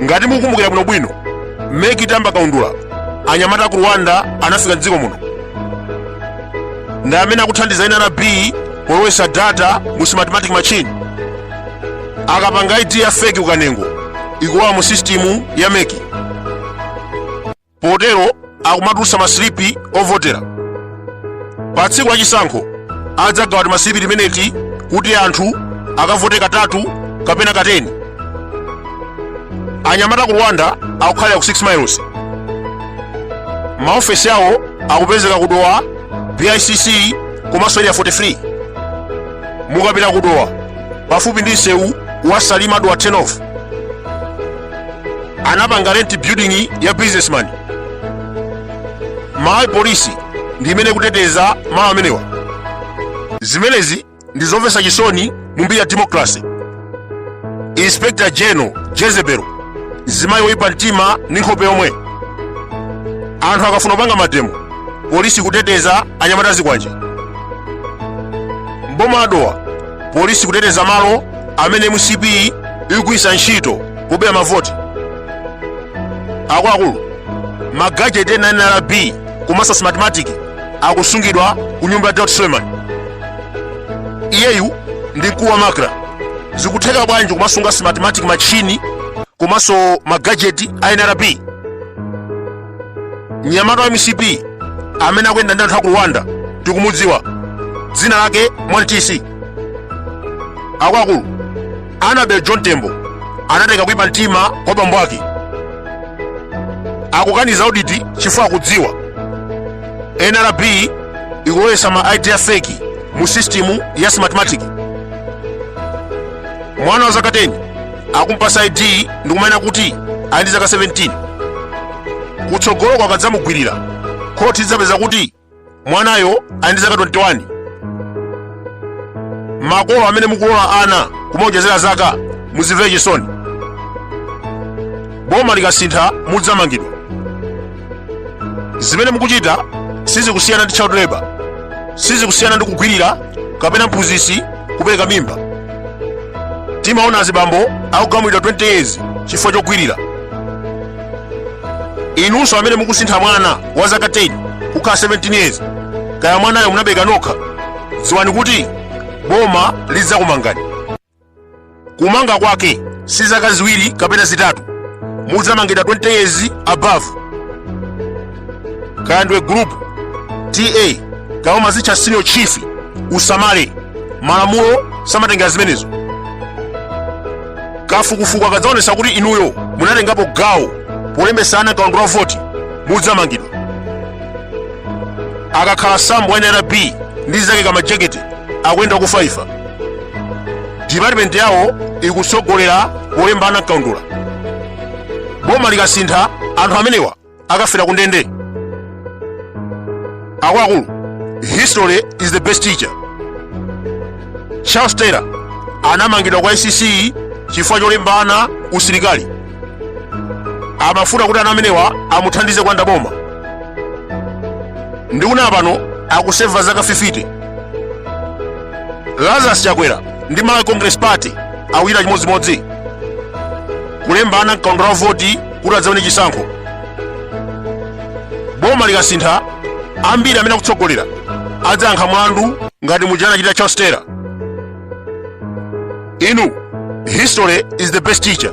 ngati mukumbukira bwinobwino mmene meki itayamba kaundula anyamata aku rwanda anafika mdziko muno ndi amene akuthandiza ena nrb polowesa data mu smartmatic machine akapanga id ya feki ukanengo ikuoneka mu sistimu ya meki potero akumatulutsa masilipi ovotera pa tsiku la chisankho adzagawa timasilipi timeneti kuti anthu akavote katatu kapena kateni anyamata ku rwanda akukhalira ku 6 miles maofesi awo akupezeka ku dowa bicc komanso area 43 mukapita ku dowa pafupi ndi msewu wa salima dowa turn off anapanga rent building ya businessman malawi polisi ndi imene kuteteza malo amenewa zimenezi ndi zomvetsa chisoni mu mbiri ya democracy inspector general jezebel zimayi woyipa mtima ndi nkhope yomwe anthu akafuna kupanga mademo polisi kuteteza anyamata zikwanje mboma la dowa polisi kuteteza malo amene mcp ikugwiritsa ntchito kubera mavoti akuluakulu magajeti ena nrb komanso smartmatic akusungidwa ku nyumba ya daud suleman iyeyu ndi mkulu wa macra zikutheka bwanji kumasunga smartmatic machini komanso magajeti a nrb mnyamata wa mcp amene akuyenda ndi anthu aku rwanda tikumudziwa dzina lake mwantisi akuluakulu annabel john tembo anatenga kuipa mtima kwa bambo ake akukaniza auditi chifukwa akudziwa nrb ikulowetsa ma id a feki mu sistimu ya smartmatic mwana wa zaka 10 akumpasa id ndikumanena kuti ali ndi zaka 17 kutsogoloko akadzamugwirira khoti lidzapeza kuti mwanayo ali ndi zaka 21 makolo amene mukulola ana kumaonjezera zaka muzimvere chisoni boma likasintha mudzamangidwa zimene mukuchita sizikusiyana ndi child labor sizikusiyana ndi kugwirira kapena mphunzitsi kupereka mimba timaona azibambo akugamulidwa 20 years chifukwa chogwirira inunso amene mukusintha mwana wa zaka 10 kukhala 17 years kaya mwanayo munabereka nokha dziwani kuti boma lidzakumangani kumanga kwake si zaka ziwiri kapena zitatu mudzamangidwa 20 years above kaya ndiwe group ta kaya umazitcha senior chief usamale malamulo samatengera zimenezo kafukufuku akadzaonesa kuti inuyo munatengapo gawo polembesa ana mkaundula wa voti mudzamangidwa akakhala sambo wa nrb ndi anzake kamajekete akuyenda kufaifa department yawo ikutsogolera polemba ana mkaundula boma likasintha anthu amenewa akafera ku ndende akuluakulu history is the best teacher charles taylor anamangidwa kwa icc chifukwa cholemba ana usilikali amafuna kuti ana amenewa amuthandize kulanda boma ndikunena pano akuseva zaka 50 lazarus chakwera ndi malawi congress party akuchita chimodzimodzi kulemba ana mkaundula wa voti kuti adzawine chisankho boma likasintha ambiri amene akutsogolera adzayankha mlandu ngati muja anachita charles taylor inu history is the best teacher